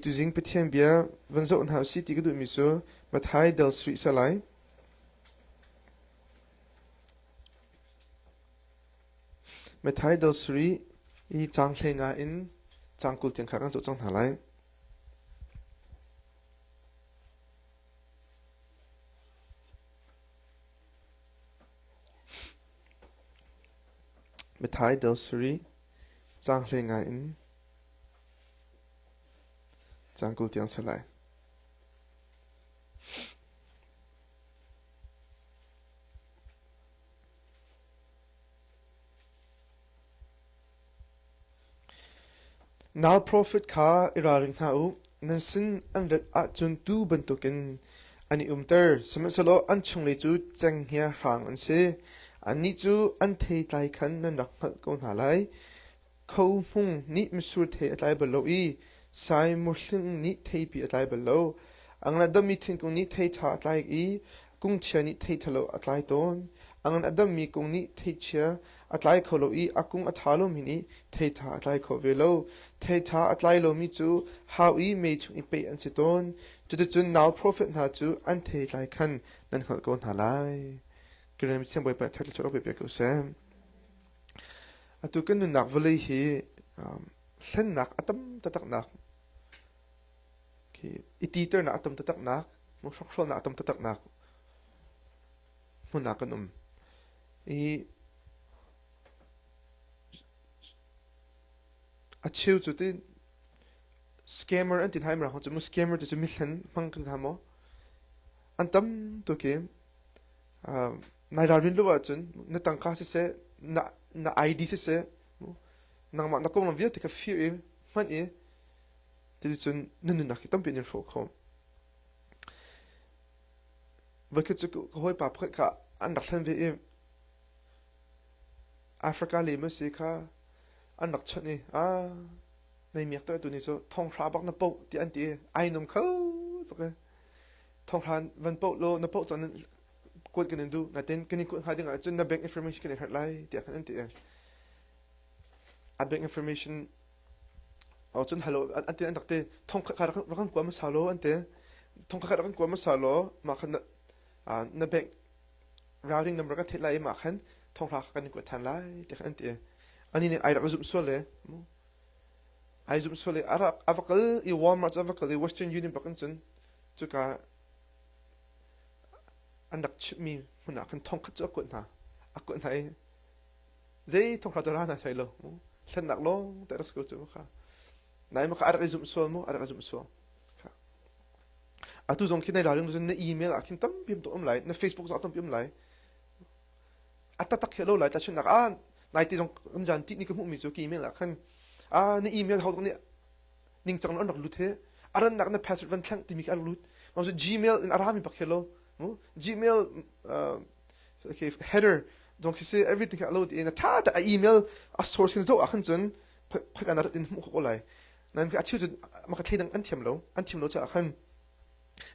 Tuzing Pathian bia van zoh hna u si ti ka duhmi cu Matthai del sarih sa lai. Matthai del sarih i caang hlei nga in caang kul tiang kha kan zoh cang hna lai. Matthai del sarih caang hlei nga in Caang kul tiang ser lai. Nal profit kha i ralring hna u. Nan sin an rat ahcun tuu bantukin an i umter. Sihmanhsehlaw an chunglei cu cenghngia hrang an si. Annih cu an theitlai khan nan rak hngalh ko hna lai. Kho Hmung nih misur thei a tlai bal lo i Sai Mur Hling nih theipi a tlai bal lo. A ngan a dammi thingkung nih theitha a tlai i kungchia nih theitha lo a tlai tawn. A ngan a dammi kung nih theichia a tlai kho lo i a kung a tha lomi nih theitha a tlai kho ve lo. Theitha a tlai lomi cu hau i mei chung i peh an si tawn. Cuticun nau profet hna cu an thei tlai khan nan hngalh ko hna lai. Ka rem siang Bawipa, thatlo chuak lo piak ko seh. Atu kan nunnak vawlei hi hlennak a tam taktaknak i titernak a tam taktaknak, hrukhrawhnak a tam taktaknak hmun ah kan um. I a cheu cu ti scammer an ti thai mara cu mu scammer ti cu mithlen hmang kan tha maw an tam tuk i Nai ralrin lo ahcun na tangka siseh, na, na ID siseh, nangmah na konglam vialte kha fir i hman i cuticun na nunnak hi tampi in hrawh kho. Voikhat cu ka hawipa pakhat kha an rak hlen ve i Africa lema si kha an rak chawnh i a nei miak to tu ni cu thonghra bak na poh ti an ti ai nom kho tuk e thonghra van poh lo na poh cun kuat kan in duh natin kan in kuat hnga ding ahcun na bank information kan in herh lai tiah kan an ti a bank information o cun halo an ti an rak ti thong kha rak kan kuam sa lo an ti thong kha rak kan kuam sa lo ma khan na bank routing number ka thei lai ma khan thong hla kan kuat than lai ti kan ti ani ne ai rak zum so le ai zum so le ara avakal i walmart avakal i western union bakin chun chuka an rak chimhmi hmun ah khan thongkhat cu a kuat hna a kuat hna i zei thongthla cu ra hna soi lo hlennak lawng te rak si ko cu kha nai ma kha a rak i zumh sual mu a rak i zumh sual atu zong khi nai ralring lu cun na email ah khin tam piam tuk um lai na facebook zong tam piam lai a tatak he lo lai ta chunnak ah nai ti zong um zan ti ni ka hmuhmi cu ki email ah khan a na email ho nih ningcang na an rak lut he a rannak na password van thleng timi ka rak lut ma cu gmail in a rami bak hi lo gmail uh, okay header dong khi se everything ha lo ti na tha ta a email a source hin zo a khan chun phak an rat in mu ko lai nan ka achiu chun ma ka thei dang an thiam lo an thiam lo cha a khan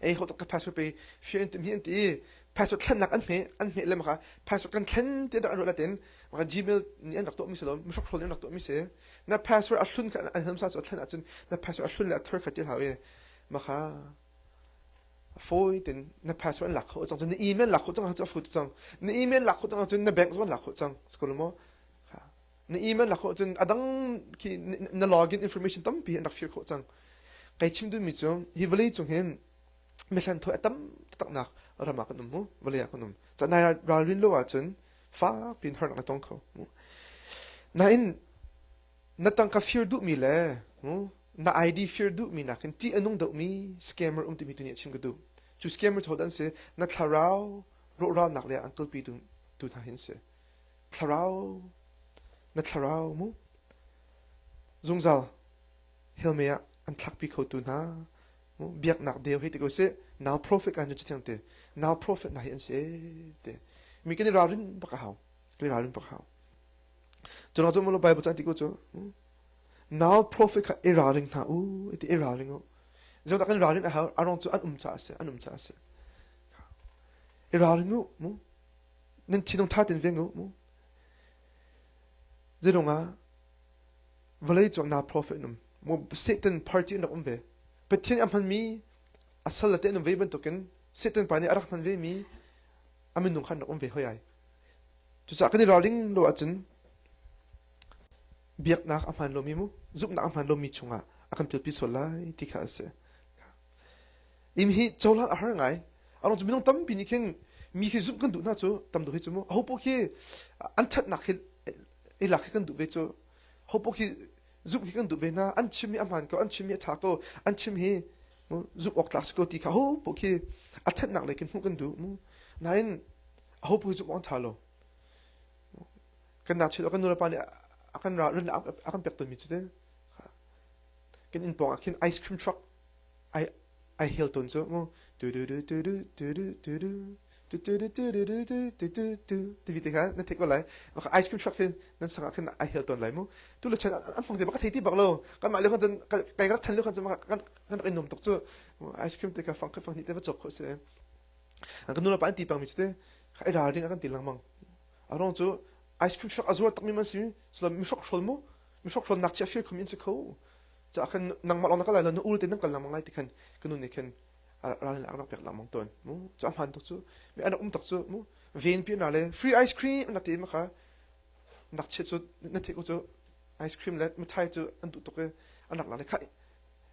ei ho ka password pe fian tim hi an ti password thlennak an hme an hme le maka password kan thlen ti da an latin maka gmail ni an rak to mi se lo mi hrok hrol rak to mi se na password a hlun an hanam sa so thlen a cun na password a hlun le a thar khat ti hawe maka phoi tin na password lak kho chang na email lak kho chang ha cha fu chang na email lak kho chang chun na bank zon lak kho chang skol mo na email lak khawh cun a dang khi na login information tampi an rak fir khawh cang kai chim dun mi cu hi vawlei cung hin mithlan thaw tam taknak rama kan um mu vawlei ah kan um cha nai ralrin lo ah cun fak pin har nak tong kho mu na in na tang ka fear du mi le na id fear du mi nak in ti anung do mi scammer um ti mi tu ni chim ka du chu scammer tho dan se na thlarau ro ra nak le uncle pi tu tu tha hin se Thlarau, na thlarau mu. Zungzal helme ah an thlakpi khotu hna biaknak deu hi ti ko sih nau profit kan cu thiang te nau profit na hi an si te mi kan i ralrin bak a hau kan i ralrin bak hau cu na cu mo bible chan ti ko cu nau profit kha i ralring hna u ti i ralring u zo tak kan ralrin a hau arong cu an um cha ase an um cha ase i ralring u mu nan thinung ṭha ten veng u mu zilung ah vawlei cung na profet num mu satan party rak um ve pathian a hman mi a sal te num ve bantukin satan pa nih a rak hman ve mi a minung khan rak um ve hoi ai cucah kan i raling lo ahcun biaknak a hman lomi mu zuknak a hman lomi chungah a kan pilpi sual lai ti kha a si Inn hi cohlan a har ngai. Arung cu minung tampi nih khin mi khi zumh kan duh hna cu tam duh hi cu mu ho poh khi an thatnak hi ei lak khi kan duh ve cu ho poh khi zumh khi kan duh ve na an chim hi a hmaan ko an chim hi a tha ko an chim hi mu zumh awk tlak si ko ti kha ho poh khi a thatnak lei kin hmuh kan duh mu nain ho poh hi zumh awk an tha lo kan nachit kan nulepa nih a kan ran a kan pek ton mi cu te kan inn pawng ah khin ice cream truck Ai hel tawn cu mu. Ti vi tikhan nan theih ko lai. Ice cream shop hin nan sang ah khin ai hel tawn lai mu. Tu le chen an hmang te bak thei ti bak lo. Kan mah le khan cun kai rak than le khan cun kan rak in nom tuk cu. Ice cream te ka fang kha fang ni te va chok kho se. An kan nu la pa an ti pang mi chu te ai ral ring kan ti lang mang. Arong cu ice cream shop azur tak mi man si. Sula mi shop shol mu. mi hrok hlon nak chia fir khum in se kho cha khan nang ma long na kala na ul te nang kal lamang ngai ti khan kanu ne khan ral ne akrak pek lamang ton mu cha man tok chu mi an um tok chu mu ven pin ra le free ice cream na te ma kha nak che chu na te ko chu ice cream le muthai chu an du tok ke an rak la le khai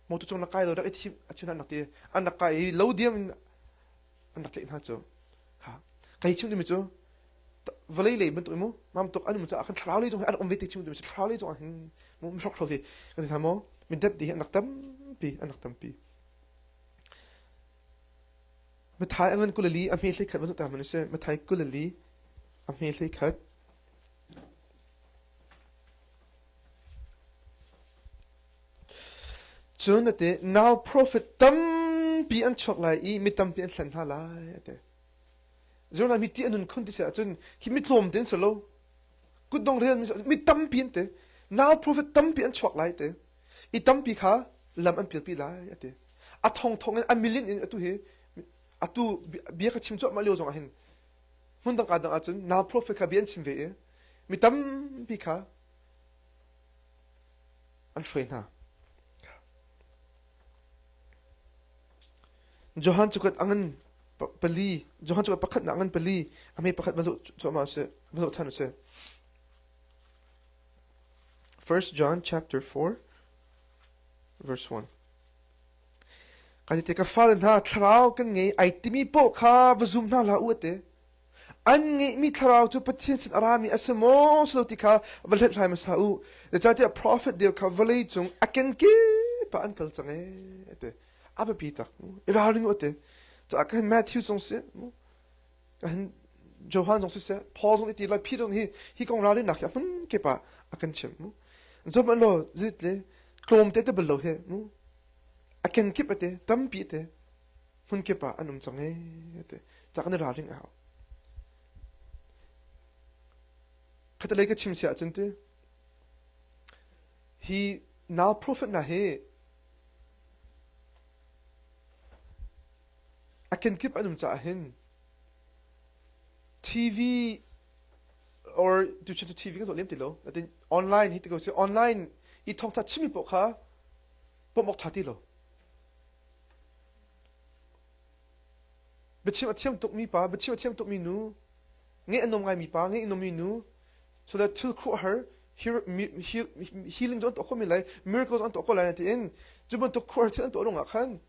mo tu chung na kai lo rak ethim achuna nak ti an rak kai lo diam an rak tlaih hna cu kha kai chim dimi cu vawlei lei bantuk mu mamtuk an mu caah khan thlarau lei zong an rak um ve ti chim dimi cu thlarau lei zong ah hin mu hrok hro hi kan ti hna maw min dep ti hi an rak tampi an rak tampi mathai angan kulali a hme hlei khat va ta man se mathai kulali a hme hlei khat Cun a ti, Now profit tampi an chuak lai i mi tampi an hlen hna lai, a ti. Zirna mi ti an nun khun ti si ahcun hi mi tlawm tein si lo. Kutdong rian mi tampi an te. Now profit tampi an chuak lai, te. I tampi kha lam an pilpi lai, a ti. A thong thong in a million in atu hi atu bia ka chim cuahmah lio zong ah hin hmun dangka dang ahcun nau profet kha bia an chim ve i mi tampi kha an hruai hna Johan cukat angan pali Johan cukat pakhat na angan pali amei pakhat mazo cuama se mazo than se First John chapter 4 verse 1 Kaite ka fale hna thlarau kan ngei ai timi paoh kha va zum hna hlah u a ti. An ngeihmi thlarau cu Pathian sin a rami a si maw si lo ti kha va hlathlai hmasa u. Zeicahtiah profet deu kha vawlei cung a kenkep ah an kal cang ee a ti. A biapi tak. I ralring u a ti. Caah kan Matthew cung si. Johan zong siseh Paul zong iti lai phi zong hi hi kong ralrinnak hi a hmun kep ah a kan chim mu zom an lo zit le tlawm te te bal lo he mu a ken kip ate tampi te hmun kep ah an um chang he te cha kan ralring a hau khata lei ka chim sia chun te hi now prophet na he a kenkip an um caah hin TV or tuition to TV kan tuah lem ti lo. Natin online hi ti ko si online i thawngtha chimmi poh kha pomok tha ti lo. Biachim a thiam tuk mi pa, biachim a thiam tuk mi nu, nge anom ngai mi pa, nge inom mi nu, so that thil khu her healing zon to ko mi lai, miracles on to ko lai na ti in, ju ban to khu her thil an to rung ah khan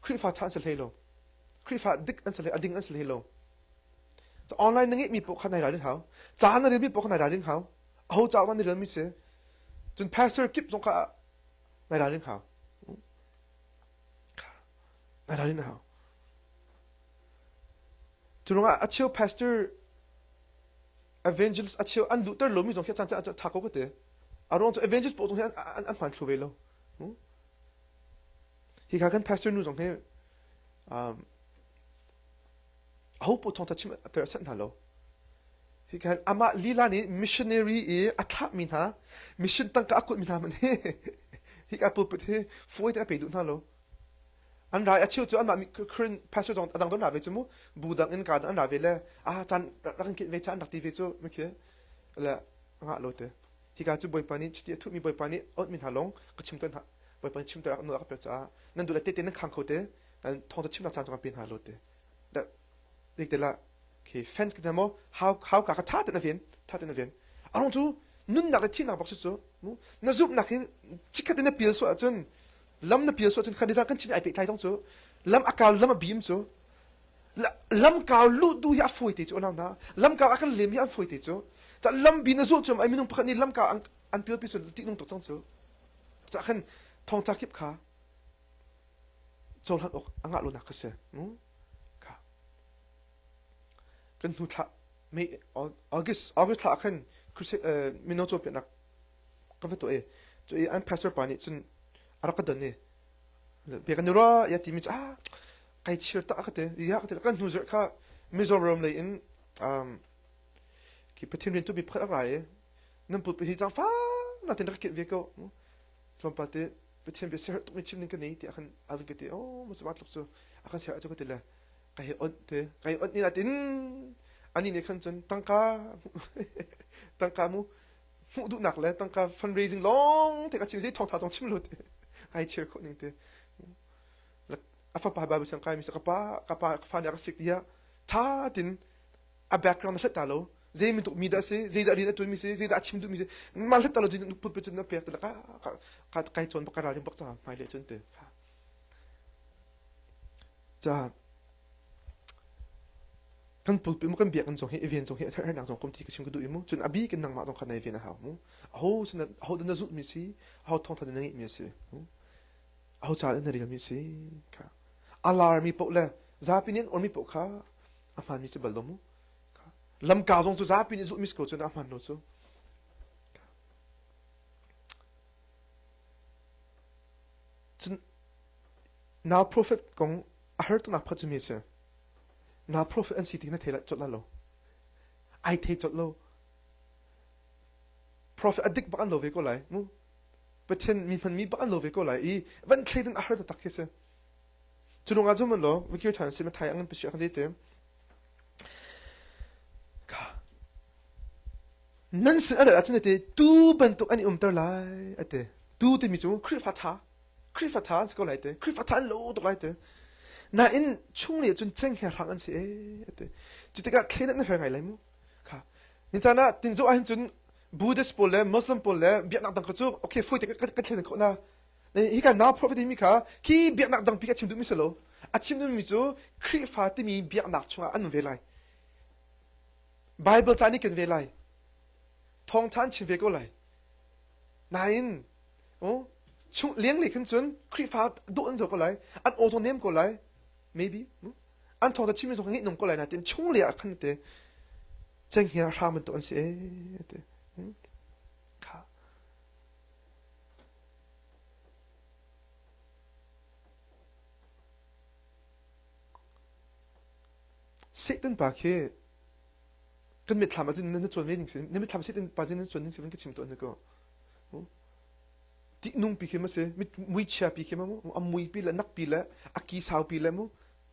Khrihfa ṭha an si hlei lo. Khrihfa dik an si hlei, a ding an si hlei lo. So, online na ngeihmi poh kha nai ralring hau. Ca na relmi poh kha nai ralring hau. Aho cauk ah na relmi si. Cun pastor kip zong kha nai ralring hau. Nai ralring hau. Cu ruangah a cheu pastor evangelist a cheu an luhter lomi zong khi caan caan ṭha ko ka te. A ruang cu evangelist poh zong hi an, an, an hman thlu ve lo. Hi kha kan pastor nu zong hi um, ho pu thong thachim ater a sanh hna lo hi khan amah lila nih missionary i a thlah mi hna mission tangka a kut mi hna man hi hi ka pulpit hi foi te a pe du hna lo an rai a chiu cu an mah current pastor zong adang don ra ve chu mu bu dang in ka an ra ve le a chan rang kit ve chan rak ti ve chu ma khi le nga lo te Hika cu Bawipa nih cuti a thuhmi Bawipa nih a onhmi hna lawng ka chim tawn hna. Bawipa nih chimter nawl a ka pek caah nan duh le tehte nan khang kho te, thawngtha chimnak caan cungah pe hna law te. Dik tel ah, okay, fans kita maw hau hau ka ka tha ten a ven, tha ten a ven. A rong cu nunnak le thihnak bak cu na zumhnak hi chikhat in na pil suah ahcun lam na pil suah ahcun khan nizan kan chin ai pehtlai tong cu lam a kal lam a bim cu lamkau luh tu hi a fawi te cu a lang hna lamkau a kan lem hi an fawi te cu ta lambi na zuh cu ai minung pakhat nih lamkau an pilpi cun tihnung tuk cang cu cah khan thongtla kip kha cohlan awk a ngah lonak kha si kha kan hnu thla May August August thla khan mino caw pianak kan va to e cu an pastor pa nih cun a rak ka don e be kan ra ya ti mi ah Kai chir tak ka te ya ka te kan hnu zir kha Mizoram lei in um ki pathin rian tu bi phat rai e nan put hi chang fa na tin ka ve ko tlawmpal te pathin be ser tuk mi chin ning ka nei ti akhan avin ka te o mo ma tluk chu akhan ser chu ka te le kai on te kai on ni latin ani ne khan chun tangka tangka mu mu du nak le tangka fundraising long te ka chim si thong tha tong chim lut ai chir ko ning te a fapa Bible siang kai mi ka pa ka pa ka fa nih a ka sik tiah tha tin a background hlat ta lo zei mi tuk mi dah si zei dah rian a tuan mi si zei dah a chim duh mi si ma hlat ta lo zei put put cun na pek tala ka ka kai chon ka ra rin bak cha mai le chun te cha kan pulpi mu kan biak kan zong hi event zong hi ather nak zong kom thi ka sim ka du imu chun abi ken nang ma dong khan nei ven ha mu ho sun ho dan na zut mi si ho thong tha dan ngi mi si aho caah dah na relmi si? Kha a larmi paoh le zapi nih an uarmi paoh kha a hmaanmi cu bal law mu. Lamka zong cu zapi nih zulhmi si ko cun a hmaan lo cu. Cun nau profet kong a hartunak phat cu mi si. Nau profet an si ti na thei cawlh lo. Ai thei cawlh lo. Profet a dik bak an lo ve ko lai mu. Pathian mihman mi bak an lo ve ko lai i van thlei ding a har taktak khi si. Cu ruang ah cun mun law Vikir than si Mathai angin pasi akhan te nan sin aral ahcun ate tu bantuk an i umter lai ate tu timi cu Khrihfa tha Khrihfa tha an si ko lai te Khrihfa tha an lo tuk lai te nain chung ni cun cheng he hrang an si e ate cu tikah thlen an her ngai lai mu kha ni chan ah tinzo ah hin cun Buddhist pawl le Muslim pawl le biaknak dang kha cu okay fawi te kan thlen ko na hi kan now prophet mi kha khi biaknak dang pi a chim duhmi si lo a chim duhmi cu Khrihfa timi biaknak chungah an ve lai Bible ca nih kan ve lai thawng than chin ve ko lai nain oh chung liang le khan cun Khrihfa doh an zo ko lai an auto nem ko lai maybe an thawng ta chim zong ngi nung ko lai na tin chung le a khan te cenghngia hram bantuk an si ee ti. Kha. Satan pa khi kan mitthlam ahcun na cuan ve ning sin na mitthlam satan pa jin na cuan ning sin ka chim to na ko ti nung pi khi ma si mit mui chia pi khi ma mu am mui pi le nak pi le a ki sau pi le mu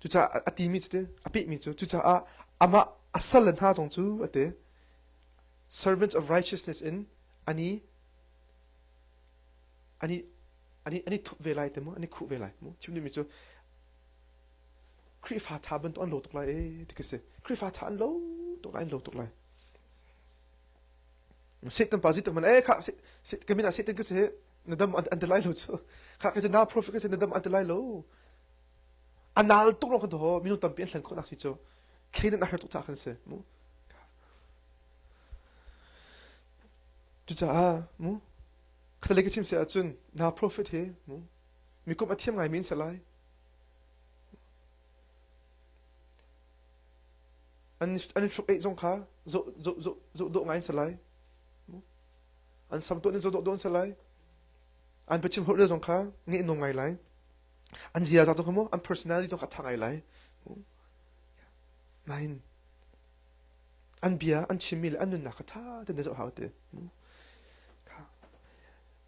Cucaah a timi cu a pehmi cu cucaah amah a salle hna zong cu a ti. Servants of righteousness in an i an i an i an i thup ve lai te mu an i khuh ve lai mu chimni mi cu Khrihfa tha bantuk an lo tuk lai ee ti ka si Khrihfa tha an lo tuk lai an lo tuk lai Satan pa Satan man eh kha ka min ah Satan ka si na dam an ti lai lo cu kha ka na profit ka na dam an ti lai lo a nal tuk lo kan to minung tampi an hlen khawh nak si cu thleining a har tuk ca kan si mu cucaah mu kata lei ka chim se ahcun na profit he mu mi kum a thiam ngai min se lai an an hruk ei zong kha zo zo zo zo do ngai se lai An sam tuah ning cu dawh dawh an si lai. An biachim holh zong kha ngeih nung ngai lai. An ziaza zong kha maw an personality zong kha thak ngai lai. Nain an bia an chimmi le an nunnak kha tha te na zoh hau te.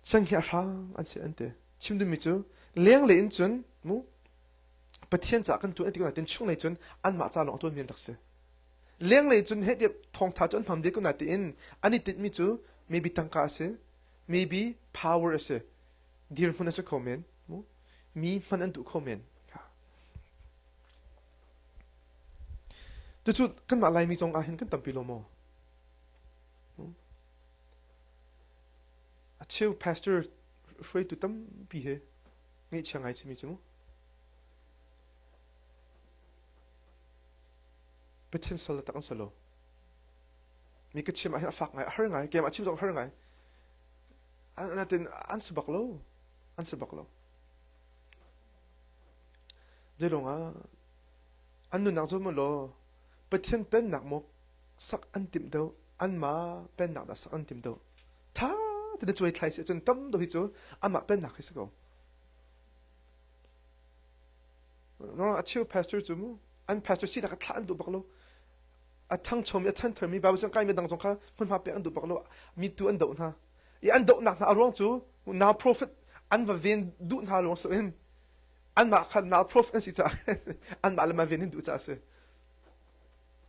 Sang hi a hrang an se an te. Chim duhmi cu lenglei in cun mu Pathian ca kan tuan ti ko nain chung lei cun anmah ca lawng a tuan mi rak si. lenglei cun heh tiah thawngtha cu an hmam ve ko nain an i tinhmi cu maybe tangka a si maybe power a si dirhmun a si kho men mi hman an duh kho men tucu kanmah laimi cong ah hin kan tampi lo maw a cheu pastor hruaitu tampi he ngeih chia ngai chimi cu mu Pathin sal le tak an si lo. Mi ka chim ahhin a fak ngai, a har ngai, keimah chim zong a har ngai. Natin an si bak lo. An si bak lo. Zeilong ah an nunnak cu mu law Pathian pennak mu sak an tim deuh anma pennak da sak an tim deuh tha tina chuai thlai si cun tam do hi cu ama pennak hi si ko Rona a cheu pastor cu mu an pastor si lak thlah an duh bak lo a thang chom i a chan thermi Bible zang kai mi dang zong kha hmunhma pek an duh bak lo mi tu an doh hna i an dohnak hna a ruang cu now prophet an va ven duh hna ruang so in anmah kha now prophet an si caah anmah le ma ven in duh caah si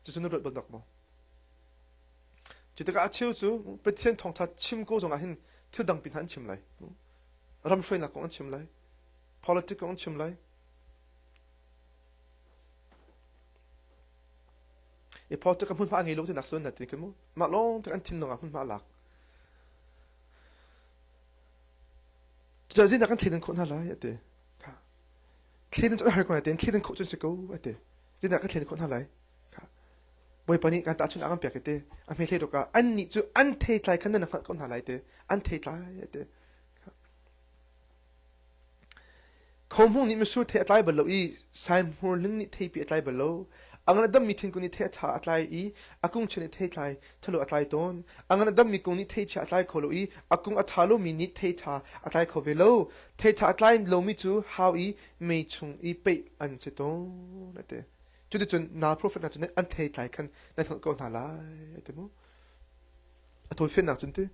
cucu nu ruat bandak mo cu tikah a cheu cu pathian thawngtha chim ko zongah hin thil dang pin han chim lai ram hruainak kong an chim lai Politic kong a chim lai. I politic a hmunhma a ngei lo tinak cun na ti kan mu. Mah lawng tuk an thinlung ah hmunhma a lak. Cucaah zinnak kan thlen khawh hna lai a ti. Thlen cun har ko lai, thlen khawh cun si ko a ti. Zinnak kan thlen khawh hna lai. Bawipa nih kan ta chun akan pek te a hme hlei dokah an nih cu an thei tlai khan nan hngalh ko hna lai te an thei tlai te Khohmung nih mitsur thei a tlai bal lo i saihmur hling nih theipi a tlai bal lo. A ngan a dammi thingkung nih thei a tha a tlai i a kungchia nih thei tlai thalo a tlai tawn. A ngan a dammi kung nih theichia a tlai kho lo i a kung a tha lomi nih theiṭha a tlai kho ve lo. Theiṭha a tlai lomi cu hau i mei chung i peih an si tawn, a ti. Cuticun nal profet hna cu an thei tlai khan nan hngalh ko hna lai, a ti mu. A tawifennak cun ti.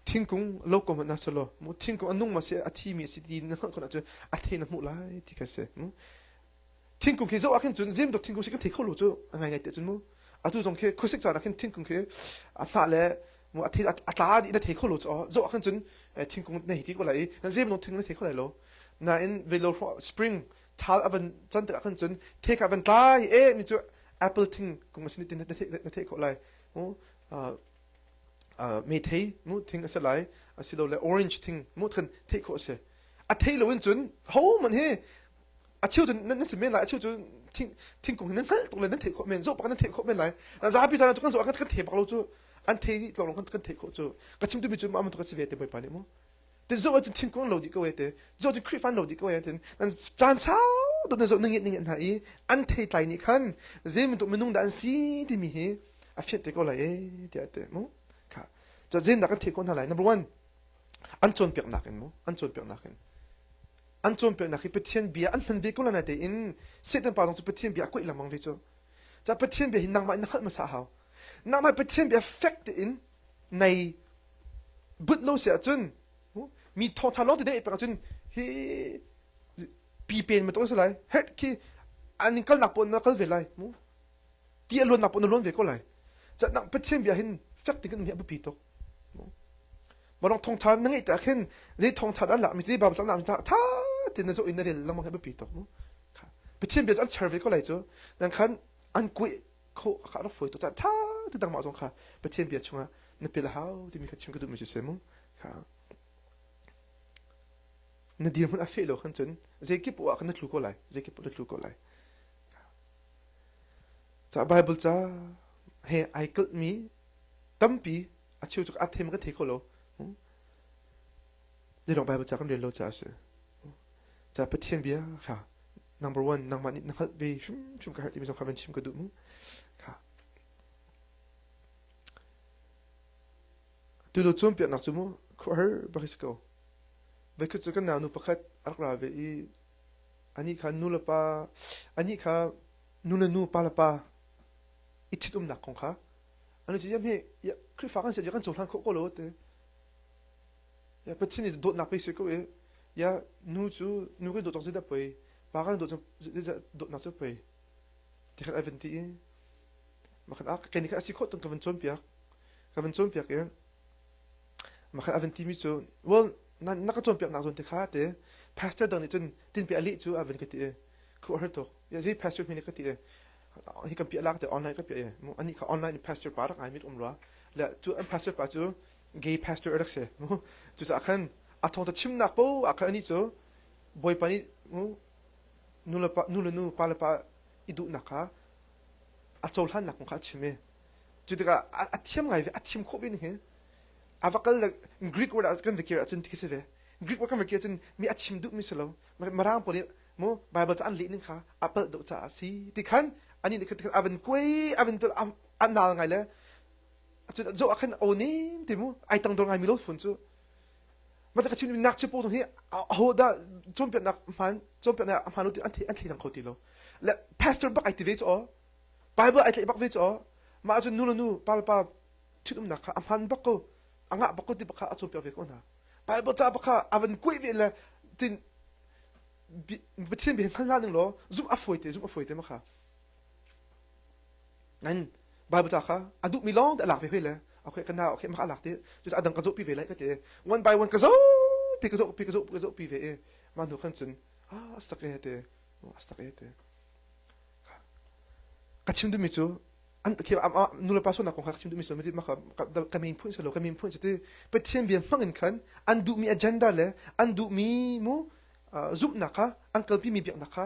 thingkung a lo ko hmanh ah selaw mu thingkung a nung ma si a thi mi a si ti na hngalh khawh ahcun a thei na hmuh lai ti kha si mu thingkung khi zoh ah khin cun zimtuk thingkung si ka thei kho lo cu a ngai ngai te cun mu atu zong khi khuasik caan ah khin thingkung khi a hla le mu a thei a tla ti na thei kho lo cu zoh ah khin cun thingkung na hiti ko lai na zim no thingkung na thei kho lai lo nain velo spring thal a van can tik ah khin cun thei kha van tlai e mi cu apple thingkung a si ni ti na thei kho lai mu Methei mu thing a si lai asilole orange thing mu khan theih khawh a si. A thei loin cun hohmanh hi a cheu cun nan si men lai a cheu cu thingkung hi nan hngalh tuk le nan theih khawh men zoh bak nan theih khawh men lai zapi caan ah kan zoh ah kan thei bak lo cu an thei lawng kan theih khawh cu ka chim tumi cu amang tuk a si ve te bawipa nih mu te zo cu thin kong lo di ko te zo cu khrifan lo di ko te nan caan sau do na zo na nge nge hna i an thei tlai ni khan zeimin to minung da an si timi hi a fiat te ko lai e tia te mu kha to zein da kan thei ko na lai number 1 an chon pek nak in mu an chon pek nak in an chon pek nak hi pathian bia an hman ve ko la na te in setan pa dong chu pathian bia ko ilamang ve chu cha pathian bia hi nangma in na khat ma sa hau nangma pathian bia fact in nei but lo se ahcun mi thawngtha lawng te pek ahcun hi pi pen ma tong se lai het khi an kal nak pon na kal ve lai mu ti alon nak pon na lon ve ko lai chat nak pathian bia hin fek tik ni abu pi tok barong thongtha na ngei ta khin je thongtha dan la mi je bab sang nam ta tha tin na zo in na rel lang mang abu pi tok mu pathian bia an cher ve ko lai chu dan khan an kui kho a ka rak fawi tu ca tha ti dang mah zong kha pathian bia chungah na pil a hau timi kha chim ka duh mi si se mu kha na dir mun a fe lo khan chun zeikip wa kan na tlu ko lai zeikip na tlu ko lai ca bible ca he ai kal mi tampi a chiu chu a them ka thei ko lo Nidong Baibal ca kan rel lo caah a si. Ca Pathian bia kha number one nangmah nih na hngalh ve hrimhrim ka herh timi zong kha van chim ka duh mu. Kha. Tutu cawnpiaknak cu mu khuahar bak si ko. Veikhat cu kan nau nu pakhat a rak ra ve i ani kha nu le pa ani kha nu le nu pa le pa i ṭhitumnak kong kha ani cu ia hme ia Khrihfa kan si kan cohlan khawh ko lo te Ya Pathin i dawtnak pe sui ko i ya nu cu nu kan dawt cang zeidah poi pa kan dawt zeidah dawtnak cu poi ti khat ai van ti i makhan ah ken khat asi khot ton ka van chon piak ka van chon piak i makhan avan ti mi cu well na ka chon piak nak zon te kha te pastor dang nih cun tin pe ali cu avan ka ti e khu har tok ya zei pastor hmini ka ti e hi kan pi lak te online ka pi e mu ani kha online pastor pa rak ai mit um lo la tu an pastor pa cu gay pastor rak si cucaah khan a thawngtha chimnak po ah khan anih cu bawipa nih nu le pa nu le nu pa le pa i duhnak kha a cohlannak kong kha a chim i cu tikah a thiam ngai ve a thim khawh ve ning hin a va kal le greek word ah kan vikir ahcun thi si ve greek word kan vikir ahcun mi a chim duhmi si lo marang po nih mo bible ca an leh ning kha a palh deuh caah si ti khan ani nih khan a van kuai a van tul a nal ngai le cun zo ah khan o nem te mu ai tang dor ngai mi lo fun cu ma ta chim nak chi po hi ho da chom pe nak man chom pe na ma lo ti an thi an thi thang kho ti lo le pastor bak ai ti ve cho bible ai tle bak ve cho ma chun nu lo nu pa pa chit um nak kha aman bak ko anga bak ko ti bak kha a chom pe ve ko na bible cha bak kha avan koi ve le tin pathian be ngal la ning lo zum a foi te zum a foi te ma kha Nan Bible ta kha a duhmi lawngte a lak ve hoi le okay ka na okay maka lak ti cucu adang ka zohpi ve lai ka ti one by one ka zohpi ka zohpi ka zohpi ka zohpi ve e ma nu khan cun ah astak e te astak e te ka chim dumi cu an ke nu le pa sunak kong kha chim dumi sul mati maka ka min phun salo ka min phun chiti pathian bia hmang in khan an duhmi agenda le an duhmi mu zumhnak kha an kalpi mi biaknak kha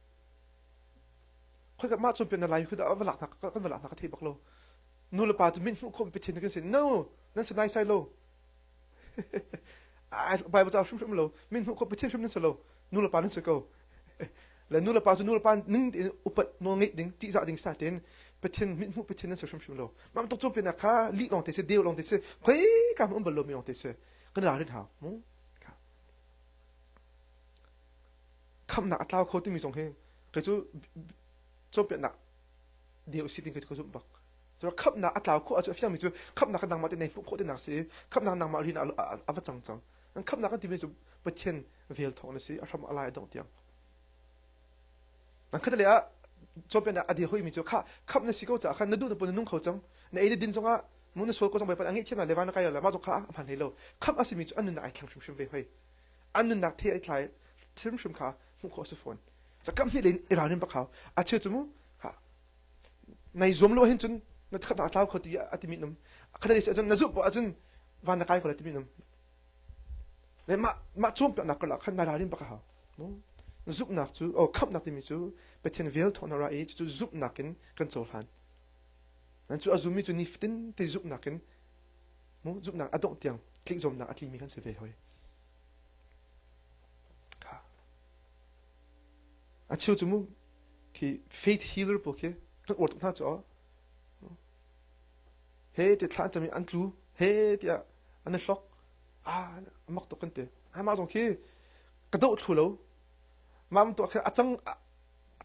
Khoi kan mah cu pe na lai khu da va lak hna kan va lak hna ka thei bak lo. Nu le pa tu min hmuh khom pe thin kan sin no nan se nai sai lo. ai bai ba cha hrum hrum lo min hmuh khom pe thin hrum nan se lo nu le pa nan se ko. La nu le pa cu nu le pa ning tein upat no ngeih ding ti za ding sa ten pathin mit hmuh pathin nan se hrum hrum lo. Mam tok chu pe na kha li long te se deu long te se khoi ka um bal lo mi long te se kan ra rin ha mu. khamnak a tlau kho timi zong hi kei cu cawnpiaknak ding u si ti ka zumh bak so khamnak a tlau khawh a cu a fiangmi cu khamnak a nangmah te nei hmuh khawh tinak si khamnak nangmah rin a va cang cang an khamnak a timi cu pathian vel thawng na si a hram a lai a dongh tiang nan khata le ah cawnpiaknak a dir hoimi cu kha kham na si ko caah khan na duh na pun na nung kho cang na ei na din zongah mu na sual ko zong bai pat angi thiang le van na kai le ma zong kha a hman hlei lo kham a simi cu an nun ai thlang hrimhrim ve hoi an nunnak thi ai tlai hrimhrim kha hmuh khawh a si fawn za kam hnih in i ralrin bak hau a cheu cu mu ha nai zuam lo hin cun na khat na tlau kho ti a ti mi num khat ni cun na zup ah cun van na kai ko le ti mi num le ma ma chuang pe nak kala khan na ralrin bak hau mu zupnak cu o khamnak timi cu pathian vel thawna ra i cu zupnak in kan cohlan nan cu azumi cu nifatin te zupnak in hmu zumhnak a dongh tiang tlikzomnak a tlingmi kan si ve hoi a chiu cu mu khi faith healer po khi kan or tuk hna cu he te thla tami an tlu he ti a an hlok a mak tuk kan te mah zong khi ka do thlu lo mam to khe acang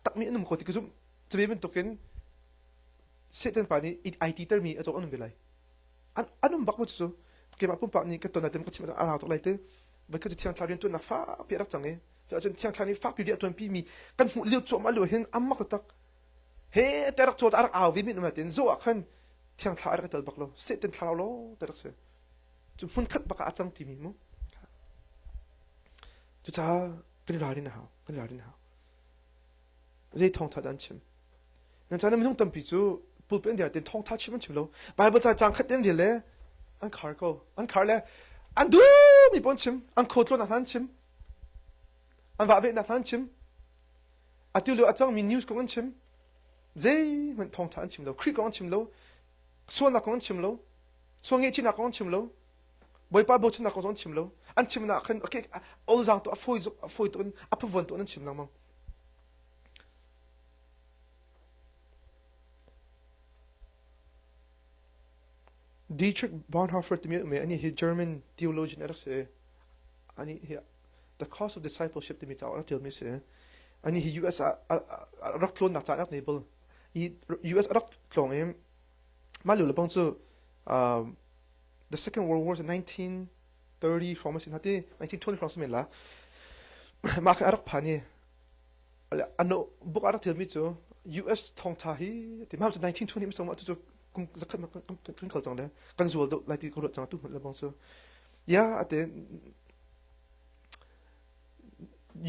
takmi anum ko ti kuzum chbe min tokin Satan pa nih ai ti termi a cawk an um ve lai. An um bak mu cucu keimah pumpak nih ka ton atem ka chim a rau tuk lai te voi ka cu thiang thla rian tuannak fapi a rak cang i to ahcun thiang thla ni fapi ri a tuan pi mi kan hmuh liu cuam a liu hin am mak tak he te rak caw a rak au vi min um latin zo ah khan thiang thla a rak tel bak lo satan thlarau lo te rak se cu hmun khat baka a cang ti mi mu cu ca kan i ralrin a hau kan i ralrin a hau zei thawngtha dah an chim nan chan minung tampi cu pulpit an den thawngtha chim an chim lo bible ca cang khat den rel le an khar ko an khar le an du mi pon chim an khotlo na hlan chim an va ve na hlan chim atu lo acang mi news kong an chim zei man thawngtha an chim lo kri kong an chim lo suana kong an chim lo suange china kong an chim lo boipa bo china kong an chim lo an chim na khan okay all zang to afoi zuk afoi ton aphuvon to an chim lang mang Dietrich Bonhoeffer timi me ani hi German theologian arak si ani hi the cause of discipleship timi cauk arak tial mi si ani hi US ah rak tlon nak ca arak nei bol i US arak tlong i mah leu lebang cu the second world war 19 30 hrawng masin hati an thik thon hrawng semen la mah kha arak phani ano book arak thil mi chu US thong tha hi ti ma 1920 mi song ma chu kum zakhat ma kan khal chang le kan zual do lai ti ko chang tu le bong chu ya ate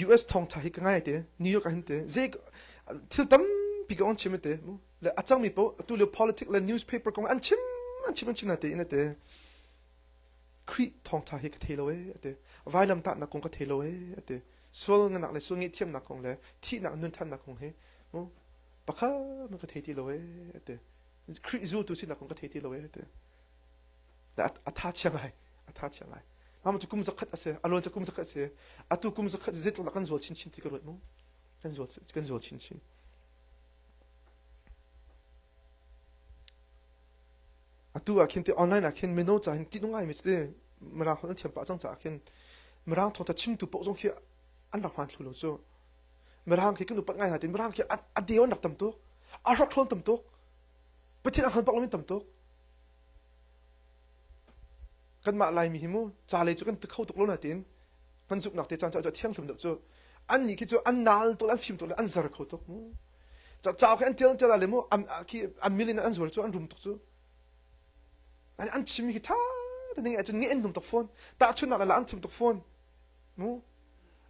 US thong tha hi ka ngai te New York hin te je thil tam pi ka on chim te le achang mi po tu le politics le newspaper ko an chim an chim an chim na te ina te Khrih thawngṭha hi ka thei lo ee, a ti. Vailamtahnak kong ka thei lo ee, a ti. Sual ngannak le sual ngaihthiamnak kong le thihnak nunthannak kong hi pakhat na ka thei ti lo ee, a ti. Khrih zultu sinak kong ka thei ti lo ee, a ti. A tha chiang lai, a tha chiang lai. Mama cu kum zakhat a si, a luan cu kum zakhat a si. Atu kum zakhat zeitluk lah kan zual chinchin ti ka ruat mu. Kan zual, kan zual chinchin. atu ah khin ti online ah khin mino ca hin ṭih ngai mi si mirang holh an thiam pah cang caah khin mirang thawngtha chimtu paoh zong khi an rak hman thlu lo cu mirang khi kan upat ngai hna tin mirang khi a deu an rak tam tuk a hrak hrawn tam tuk pathian a han pak lomi tam tuk kanmah laimi hi mu ca lei cu kan te kho tuk lo natin kan zumhnak te caan cu a thiang hlim deuh cu annih khi cu an nal tuk le an fim tuk le an zar kho tuk mu cacao khi an tel tel le mu khi an million an zual cu an rum tuk cu an chim hi tha tning cu ni an num tuk phone ta chun nak la an chim tuk phone mu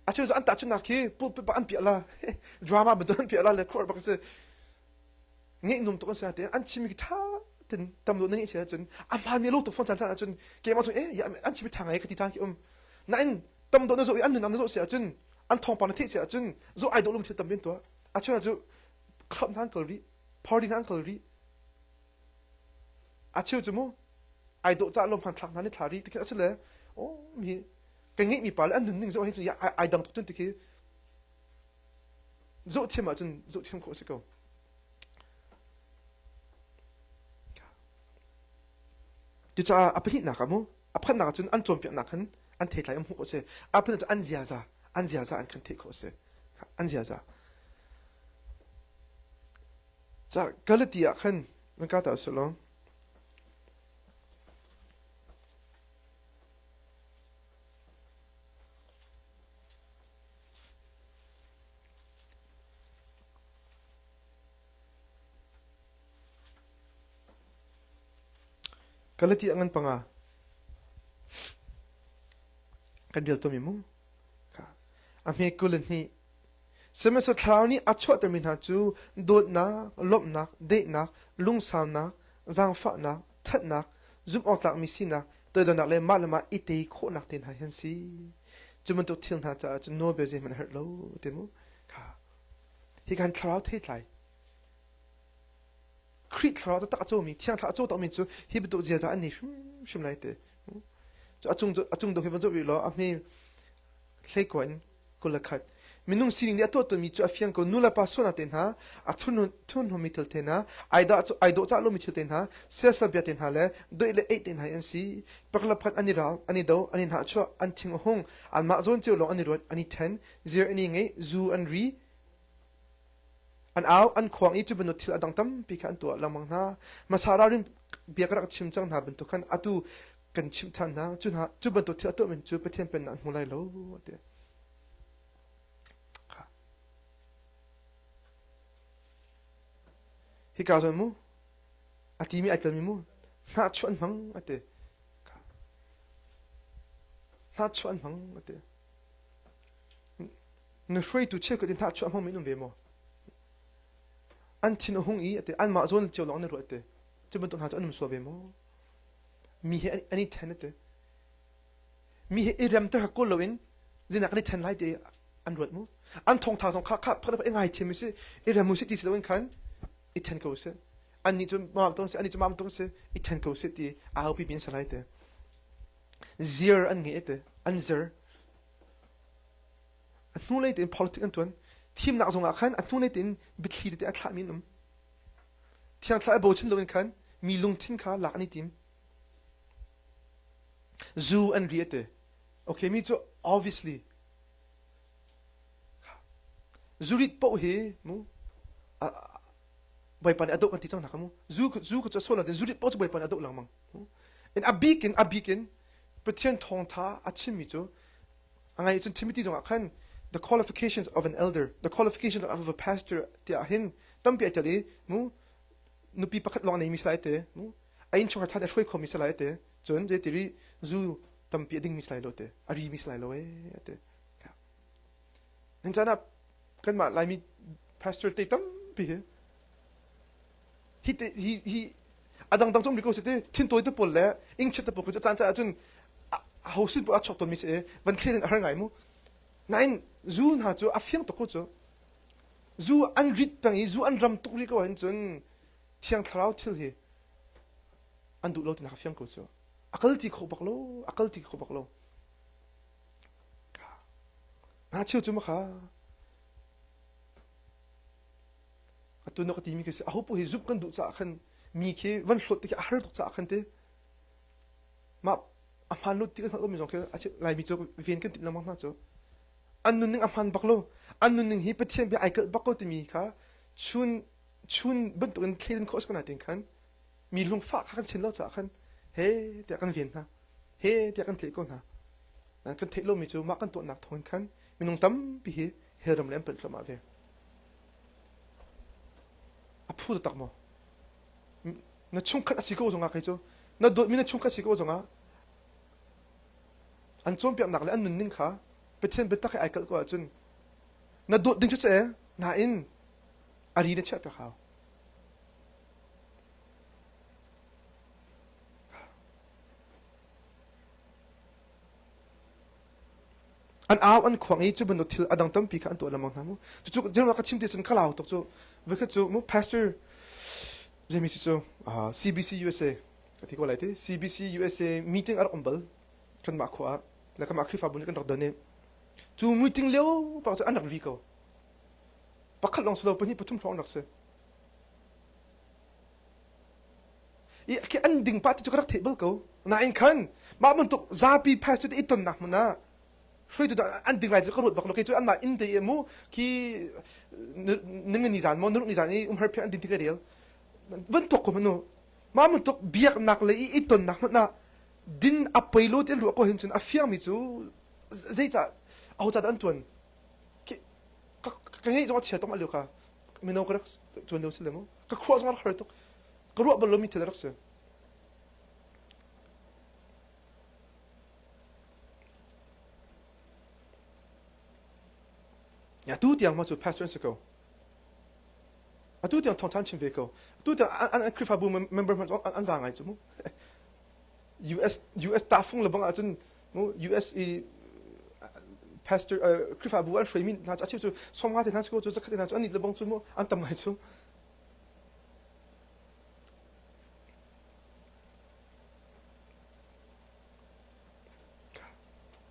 a cheu an ta chun nak khi pulpit pak an piala drama bedon piala le khor bak se ngeih num tuk an si te an chimi tha tin tam lo ngeih se cun a hman mi lo tuk phone chan chan cun ke ma chung eh ya an chimi tha ngai ka ti tan ki um na in tam do na zo an nun an zo se cun an thong pa na the se cun zo ai do lum thil tam bin to a chuna chu club nan kal ri party nan kal ri a chiu chu mu ai do cha lom han thak nan thla ri ti a se le o mi ka ngi mi pa le an nun ning zo hi chu ya ai dang tuk chun ti ki zohthiam ahcun zohthiam khawh a si ko cucaah a pahnihnak ah mu a phannak ahcun an cawnpiaknak khan an theitlai um hmuh a si a phun ahcun an ziaza an ziaza an kan theih khawh a si an ziaza ca galati ah khan van ka ta selaw Kan le ti a ngan panga. Kan rial tomi mu. A hme kul ni. Semaso thlarau nih a chuahtermi hna cu dawtnak, lawmhnak, deihnak, lungsaunak, zaangfahnak, ṭhatnak, zumhawktlakmi sinak, toidornak le mah le mah i te khawhnak te hna hi an si. Cu bantuk thil hna caah cun nawlbia zeihmanh a herh lo ti mu. Hi kan thlarau theitlai. Khrih thlarau taktak a cawmi, thiang thlarau a cawtakmi cu hi bantuk ziaza an nei hrimhrim lai te. A cung a cung dawh hi van zoh rih law a hme Hleikua in kul a khat. Minung sining nih a tuahtuahmi cu a fiang ko. Nu le pa sualnak te hna, a thurhnawmmi thil te hna, ai dawhcah lomi thil te hna, siasabia te hna le doih le eih te hna hi an si. Pakhat pakhat an i rau, an i do, an i hnahchuah, an thing a hung, anmah zawn cio lawng an i ruat, an i ṭhen, zir an i ngeih, zu an ri, an au, an khuang i cu bantuk thil a dang tampi kha an tuah lengmang hna. Hmasa ralrin bia ka rak chim cang hna bantuk khan atu kan chimh than hna cu hna cu bantuk thil a tuah men cu Pathian pennak hmu lai lo ti hi ka zuan mu a ti mi ai tel mi mu hna chu an hmang a ti hna chu an hmang a ti na hruaitu cheu ka ti hna chu a hmang min um ve mo an thin a hung i a ti an mah zawn cio long na ruat te cu bantuk hna chu an um so ve mo Mi he an i ṭhen a ti. Mi he i remter kha kawl loin zeinak kan i ṭhen lai ti an ruat mu. An thawngtha zong kha kha phak i ngai thiam u sih, i rem u sih ti si loin khan i ṭhen ko u sih. Annih cu mam tung si, annih cu mam tung si, i ṭhen ko u sih ti a aupi mi an si lai ti. Zir an ngei ti, an zir. A hnulei tein politics an ṭuan. Thimnak zongah khan a hnulei tein biathli tete a thlah mi an um. Thiangthlarau i bochan loin khan mi lungthin kha lak an i tim. Zu an ri a ti. Okay, mi cu obviously zurit poh hi mu bawipa nih a doh kan ti cang hna ka mu zu zu cu sual natin zurit poh cu bawipa nih a doh lengmang in a bik in a bik in Pathian thawngtha a chimmi cu A ngai cun Timothy zongah khan the qualifications of an elder, the qualifications of a pastor tiah hin tampi a tel i mu nupi pakhat lawng nei mi salai te mu a inn chungkhar than a hruai kho mi salai te cun je ti ri zu tampi a ding mi salai lo te a ri mi salai lo e te nan chan ah kanmah laimi pastor te tampi hi hi a dangdang cong mi ko si ti thintawi te pawl le ingchiat te pawl cu caan caah cun ho sin pawl a chok ton mi si van thlen a har ngai mu nain zu hna cu a fiang tuk cu zu an rit peng i zu an ram tuk ri ko hin cun thiang thlarau thil hi an duh lo tina ka fiang ko cu a kal ti kho bak lo a kal ti kho bak lo na cheu cu ma kha atu na ka timi khi a hopoh hi zumh kan duh caah khan mi khi van hlawt ti a har tuk caah khan te ma a hman lo ti kan hngalmi zong khi laimi cu ven kan timh lengmang hna cu an nunning a hman bak lo an nunning hi pathian bia ai kalh bak ko timi kha chun chun bantuk in thlen khos ko na tin khan mi lung fa kha kan sin lo caah khan he te kan ven hna he te kan tle ko hna nan kan theih lomi cu mah kan tuahnak thawn khan minung tampi hi heram le an panh hlom ah ve A phu taktak maw? Na chungkhat a si ko zongah kei cu na dawtmi na chungkhat si ko zongah an cawnpiaknak le an nunning kha Pathian biatak he ai kalh ko ahcun na dawt ding cu si nain a ri na chiah piak hau An au an khuang i cu bantuk thil a dang tampi kha an tuah lengmang hna mu. Cucu jeroa ka chim ti cun ka lau tuk cu. Voikhat cu mu pastor Jamie cu cu uh, CBC USA ka ti ko lai ti CBC USA meeting a rak um bal kanmah khua ah le kanmah Khrihfabu nih kan rak don i cu meeting lio pak cu an rak ri ko pakhat lawng si lo pahnih pathum hrawng rak si i an ding pa tu cu ka rak theih bal ko nain khan mah bantuk zapi pastor te i tonnak hmun ah hruaitu an ding lai cu ka ruat bak lo kei cu an mah inn te i mu khi nung ni zan mo nuruk ni zan i umhar phe an ding tikle rel van tok ko manu ma mun tok biak nak le i ton nak mun na din a peilo te lu ko hin chun a fiang mi chu zei cha au cha an tuan ka ngei zo a chia tom aliu ka meno ka tuan leu si le mu ka khuah zong har tuk ka ruah bal lomi thil rak si ya tu tiang ma cu pastor an si ko atu tiang thong than chim ve ko atu tiang an an krifabu member man an za ngai chu mu US US ta fung le bang ah cun US i pastor Khrihfabu an hruai mi hna cu a cheu cu somnga te hna cu zakhat te hna cu an it lebong cu mu an tam ngai cu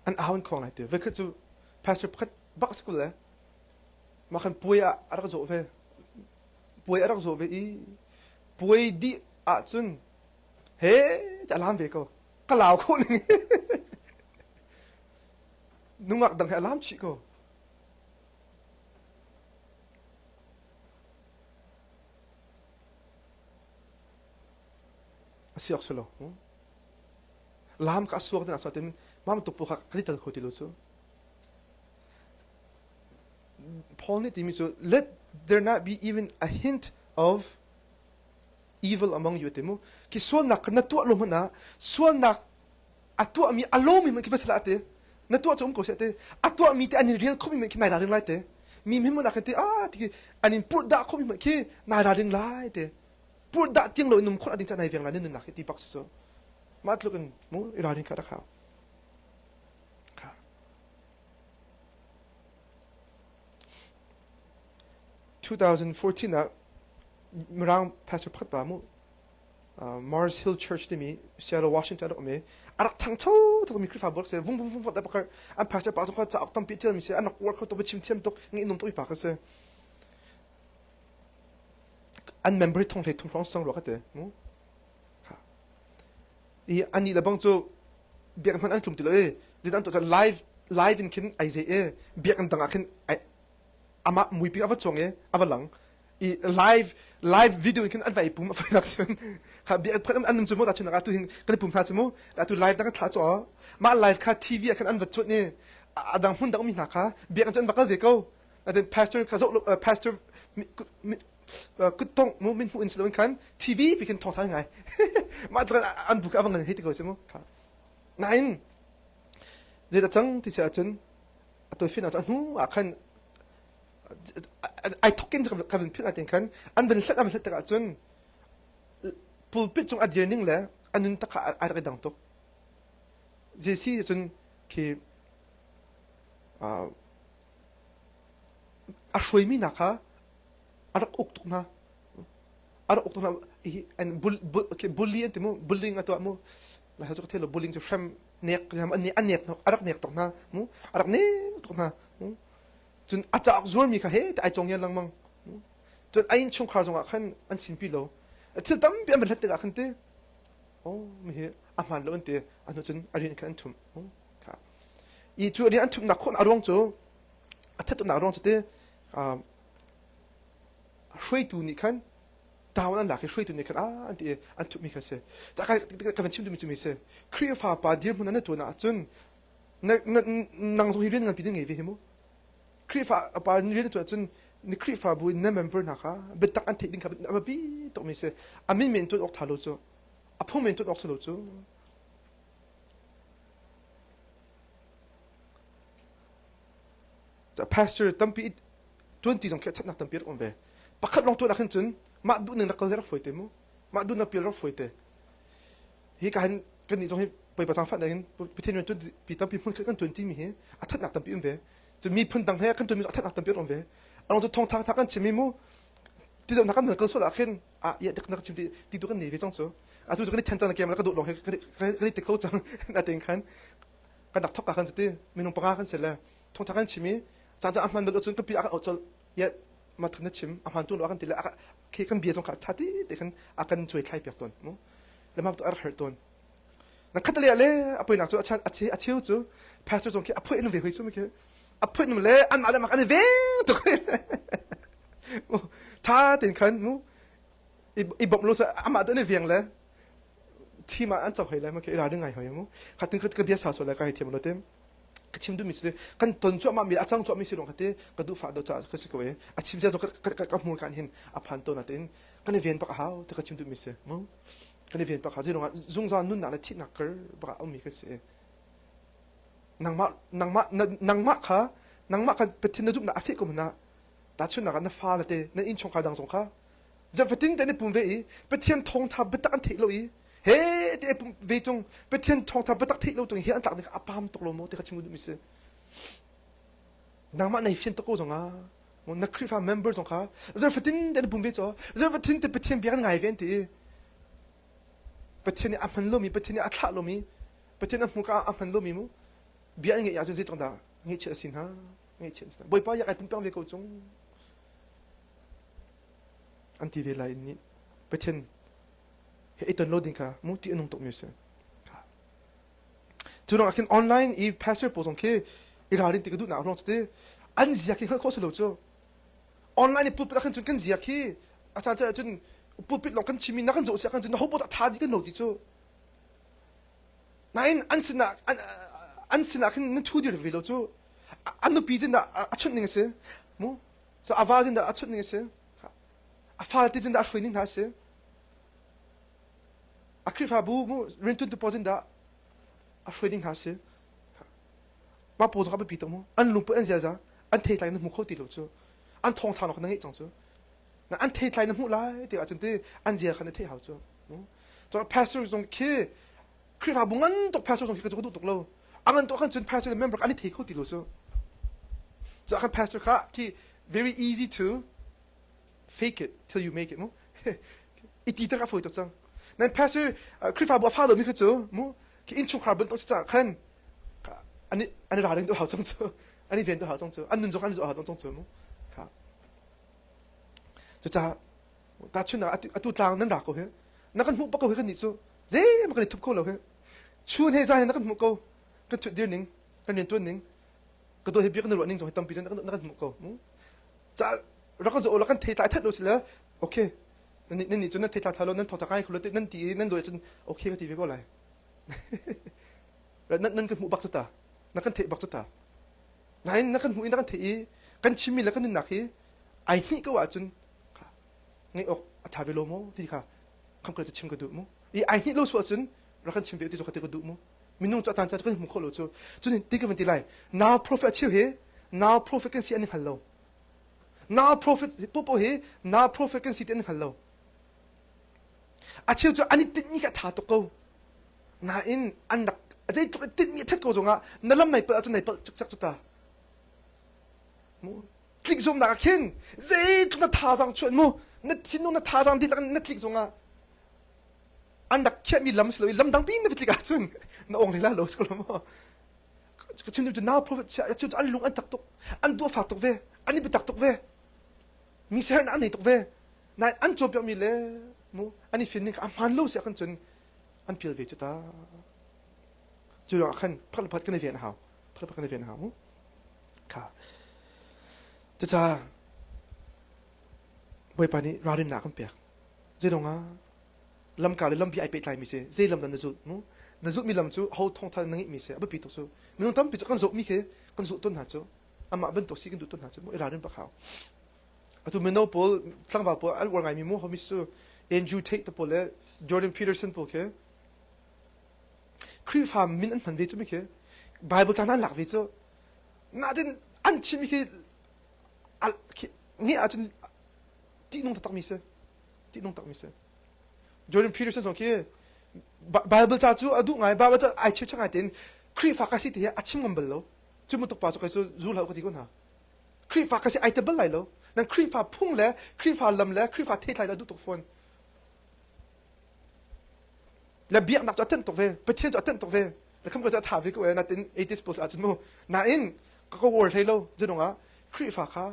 an aun khong ngai te vekhat cu pastor pakhat bak sikul le ma khan puai ah a rak zo ve puai a rak zo ve i puai dih ah cun he ti alam ve ko ka lau kho ning nungak dang he alam chi ko asiak selo lam ka asuak ding aswa tin mam tu puka kani tal khoti lo chu Paul ni timi chu let there not be even a hint of evil among you te mu ki sualnak na tuah lo hmanh ah sualnak a tuahmi a lawmi hmanh ki va sala te na tuah cu um ko se te a tuahmi te an in rel khomi hmanh ki nai raling lai te mi mhim mun akan te a ti an in put da khomi hmanh ki nai raling lai te put da tiang lo num khon ading cha nai veng la ne nunnak hi ti bak su ma tluk in mu i raling ka rak hao 2014 ah Mirang pastor pakhat pa mu Mars Hill Church timi Seattle Washington rak um i a rak changcho tuk mi Khrihfabu rak se vung vung vung vung pakar an pastor pa kha cauk tampi tial mi se an rak war kho tuk chim thiam tuk ngi num tuk pa ka se an member thong hlei thong hlong sang ro ka te mu i an ni labang chu biak man an tlum ti lo e zidan to live live in khin ai ze e biak an dang a khin amah muipi a va cawng i a va lang i live live video in khin an va i pum a fai nak sin kha bia phat an num chu mu ta chin ga tu hin kan pum hna chu mu ta tu live da kan thla chaw ma live kha tv khan an va chut ni adang mun dang mi hna kha bia kan chun bakal ve ko then pastor kha zo pastor kutong mu min mu in slow khan tv bi khan thong thai ngai ma tlan an bu ka wang hi ti ko se mu kha nain zeta chang ti sa chun a toisin ah hnu ah khan ai thokin ka vin philh atin khan an vin hlat an hlat tik ahcun pulpit cung a dir ning le a nun takha ai rak i dang tuk jesi cun khi a hruaimi hna kha a rak uk tuk hna a rak uk tuk hna bully an ti mu bullying a tuah mu la cu thil bulling cu hrem nek an nek a rak nek tok hna mu a rak nek tok hna cun a caak zualmi kha he ta ai cong yan langmang cun a inn chungkhar zongah khan an sin pi lo thil tampi an bat tikah khan te o mi hi a hman lo an te an cun a rian khan an thum kha i cu rian an thumnak khon a ruang cu a thatumnak ruang cu te hruaitu nih khan tawan an lak i hruaitu nih khan an ti i an thuhmi kha a si ka van chim duhmi cu mi si Khrihfa pa dirhmun an tuan ahcun nang zong hi rian nganpi na ngei ve hi mu Khrihfa a pa rian tuan ahcun ni Khrihfa bu in na member hna kha biatak an theih ding kha a biapi tukmi si a min men tuan awk tha lo cu a phung men tuan awk si lo cu pastor tampi tuanti zong khi thatnak tampi rak um ve pakhat long tuan ah khin cun mah duh ning rak kal rak foi te mu mah duh ning pial rak foi te hi ka han kan ni zong hi poi pa sang phan in pithin ran tuan pi tampi mun kan tuanti mi hi a thatnak tampi um ve cu mi phun dang he kan tuan mi a thatnak tampi um ve along tu thong thang thang kan chimi mu ti dong kan kal so la khin a ya tek nak chim ti ti tu kan ni ve chong chu a tu kan ni then chang kem la ka do long he kan ni te kho chang na ten khan kan dak thok ka kan ti minung panga kan se le thongtha kan chim i caan a hman bel cun ka pi a kan auh colh yet ma thun na chim a hman tu kan ti le khi kan bia zong kha tha ti te kan a kan chuai thlai piak ton mu le ma to ar har ton na khat le le a poi nak chu a chan a che a cheu chu pastor zong khi a phui in ve hoi chu mi khi a phui in le an ma le ma kan ve to tha tin khan mu i bom lo cha ama to ne veng le thi ma an chau hoi le ma ke ra ringai hoi mu khatin khat ka bia sa so le ka hi thiam lo tem ka chim duhmi cu kan ton cuahmah mi a cang cuahmi si rong kha te ka duh fa do ca ka si ko e a chim cia ka hmur kan hin a phan to na tin kan i ven pak hau te ka chim duhmi si mu kan i ven pak hau zirong ah zungzal nun na le thih na kar baka um mi kan si nangmah nangmah nangmah kha nangmah kan pethin na zup na a fi ko na ta chun na na fa la te na in chong kha dang zong kha Ziah fatin te ne pum ve i Pathian thawngtha biatak an theih lo i he te pum ve cung Pathian thawngtha biatak theih lo tung hi an tlak ni kha a pam tuk lo maw ti kha chim mi si nangmah nei fian tuk ko zong ah na Khrihfa member zong kha zar fatin te ne pum ve chaw zar fatin te Pathian bia kan ngai ve an ti i Pathian nih a hman lomi Pathian nih a thlah lomi Pathian a hmu ka a hman lomi mu bia an ngeih ya cu zeitok dah ngeih chi a si hna ngeih chi an si hna bawipa yak ai pumpiang ve ko cung an ti ve lai i nih Pathian he i ton lo ding kha mu ti a nung tukmi a si. Cu lawngah khin online i pastor pawl zong khi i ralrin ti ka duhnak ruang cu an ziak hi hngalh khawh si lo cu online i pulpit ah khan cun kan ziak hi a caan cu cun pulpit lawng kan chimmi na kan zoh si ah khan cun na ho poh tha di kan lo ti cu nain an sinah an, an sinah khin nan thu dir ve lo cu an nupi jin a chunh ning a si mu So a val zindah a chut ning a si. A fal ti zindah a hruai ning hna a si. A Khrihfabu mu rintun tu paw zindah a hruai ning hna a si. Ma paw zong a biapi tuk mu. An lungput an ziaza an thei tlai na hmu kho ti lo cu. An thong thang nok na ngeih cang cu. Na an thei tlai na hmu lai te ahcun ti an zia khan na theih hau cu. Pastor zong khi Khrihfabu ngan tuk pastor zong khi ka cu ka duh tuk lo a ngan tuk ahkhan cun pastor le member an i thei kho ti lo cu so ahkhan pastor kha thi very easy to fake it till you make it mu i ti tar a foi tuk cang nan pastor Khrihfabu a fa lomi kha cu mu ki inchungkhar bunh tuk si caah khan ani ani ra ring tu hau cang cu ani ven tu hau cang cu an nun zong an zu hau cang cu mu ka cucaah tahchunhnak atu tlang nan ra ko hi na kan hmuh pa ko hi kan nih cu zeima kan i thup kho lo hi chun he zan he na kan hmuh ko kan thut dir ning kan rian tuan ning ka do hi bia kan ruah ning zong hi tampi na kan hmuh ko cha ra kan zo la kan thei tlai that lo si la okay nan ni chu nan thei tlai tha lo nan thotha kai khulu nan ti nan lo chun okay ka ti ve ko lai nan nan kan hmuh bak ta na kan thei bak ta ngai na kan hmuh na kan thei i kan chimi la kan nak hi ai ni ka wa chun kha ngeih awk a ṭha ve lo maw ti kha khamkal cu chim ka duh mu i ai hnih lo su ahcun rak kan chim ve ti cu ka ti ka duh mu minung cu a caan ca kan hmu kho lo cu cun ti ka van ti lai now prophet a cheu hi now prophet kan si an i hngal lo now prophet popo hi now prophet kan si ti an hngal lo a cheu cu an i tinhmi kha ṭha tuk ko nain an rak zeitluk i tinhmi a ṭhat ko zongah na lam nai palh ahcun nai palh cikcek cu ta mu tlik zungnak ah khin zeitluk na thazaang chuan mu na thinung na thazaang ti na tlik zungah an rak khiahmi lam si lo i lam dang pin na tlik ah cun na ong lila lo so lo maw chim cu now prophet chim an lung an tak tuk an dua fak tuk ve an i bitak tuk ve mi ser na an nei tuk ve na an cawpiak mi le mu an i fin ning a hman lo si kan cun an pil ve cu ta cu rak khan phat phat kan i ven hau phakhat pakhat na ven hna u kha cucaah bawipa nih ralrinnak kan pek zeidongah lamka le lampi ai pehtlaimi si zeilam dan na zulh nu na zulhmi lam cu ho thawngtha na ngeihmi si a biapi tuk cu minung tampi cu kan zohmi khi kan zulh ton hna cu amah bantuk si kan duh ton hna cu mu i ralrin pak hau atu mino pawl tlangval pawl an uar ngaimi mu homi su Andrew Tate pawl le Jordan Peterson pawl khi Khrihfa min an hman ve cu mi khi Bible ca nan lak ve cu natin an chim khi nge ahcun tihnung taktak mi si tihnung takmi si Jordan Peterson zong khi Bible ca cu a duh ngai Bible ca ai chim ngai tein Khrihfa ka si ti hi a chim ngam bal lo cu mutuk pa cu kai su zu hlau ka ti ko hna Khrihfa ka si ai te bal lai lo nan Khrihfa phung le Khrihfa lam le Khrihfa theithlai la duh tuk fawn le biaknak cu a thanh tuk ve pathian cu a thanh tuk ve le kham ka cu a tha ve ko e natin atheist pawl caah cun mu nain ka ka war hlei lo zunung ah khrihfa kha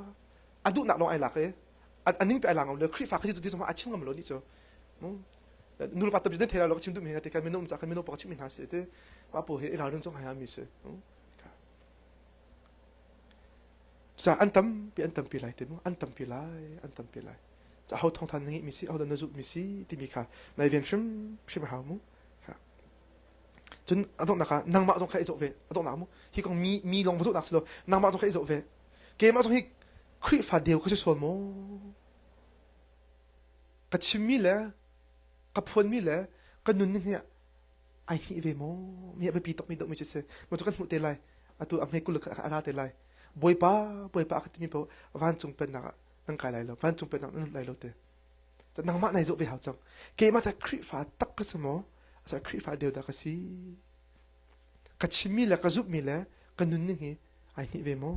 a duhnak lawng ai lak i a ning pe ai lang le khrihfa kha cu ti zongah a chim ngam lo ni cu nu pa tamji den thela lo chim dum he te kan mino um ca kan mino pang chim mi hna si te pa po he i ralun chong hai ha mi si Cucaah an tampi an tampi lai te mu an tampi lai an tampi lai ca ho thong than na ngeih mi si ho na zulh mi si timi kha nai ven hrim hrim a hau mu cun a donghnak ah nangmah zong kha i zoh ve a donghnak mu hi kong mi mi lawng va zulhnak si lo nangmah zong kha i zoh ve keimah zong hi Khrihfa deu ka si sual maw ka chimmi le ka phuanmi le ka nun nih ai hngih ve maw mi a biapi tuk mi dawhmi cu si maw cu kan hmuh te lai atu a hme kuluk kha a ra te lai bawipa bawipa ka timi po vancung pennak ah nan kai lai lo vancung pennak nan lut lai lo te ta nangmah nai zawh ve hau cang keimah ta khrihfa tak ka si maw asa khrihfa deu da ka si ka chimmi le ka zumhmi le ka nun ning hi ai hnih ve maw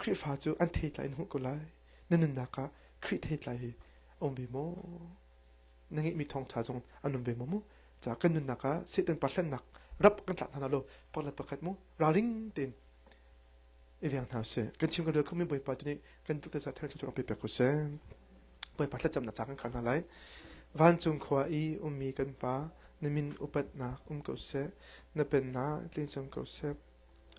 khrihfa cu an thei tlai in hmuh ko lai na nunnak ah khrih thei tlai hi um ve maw na ngeihmi thawngṭha zong an um ve maw mu? Ca kan nunnak ah Satan pa hlennak rap kan tlak hna law pakhat le pakhat mu ralring tein i veng hna sih. Kan chim ka rel khomi Bawipa tu nih kan tuk tesa thar cu pe pek sih. Bawipa thlacam na ca kan khal hna lai. Vancung khua i ummi kan pa na min upatnak um ko seh. Na pennak tling cung ko seh.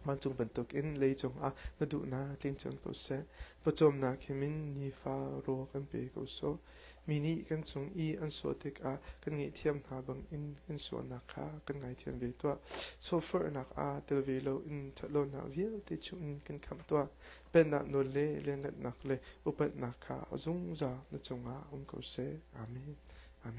Vancung bantukin lei cungah na duhnak tling cang ko seh. Pawcawmnak he min nifa raw kan pe ko sawh. Mi nih kan cung i an sawh tikah kan ngaihthiam hna bangin kan sualnak kha kan ngaithiam ve tuah. Sawhforhnak ah tel ve loin ṭhatlonak vialte chungin kan khamh tuah. Pennak nawl le lianngannak le upatnak kha zungzal na cungah um ko seh. Amen. Amen.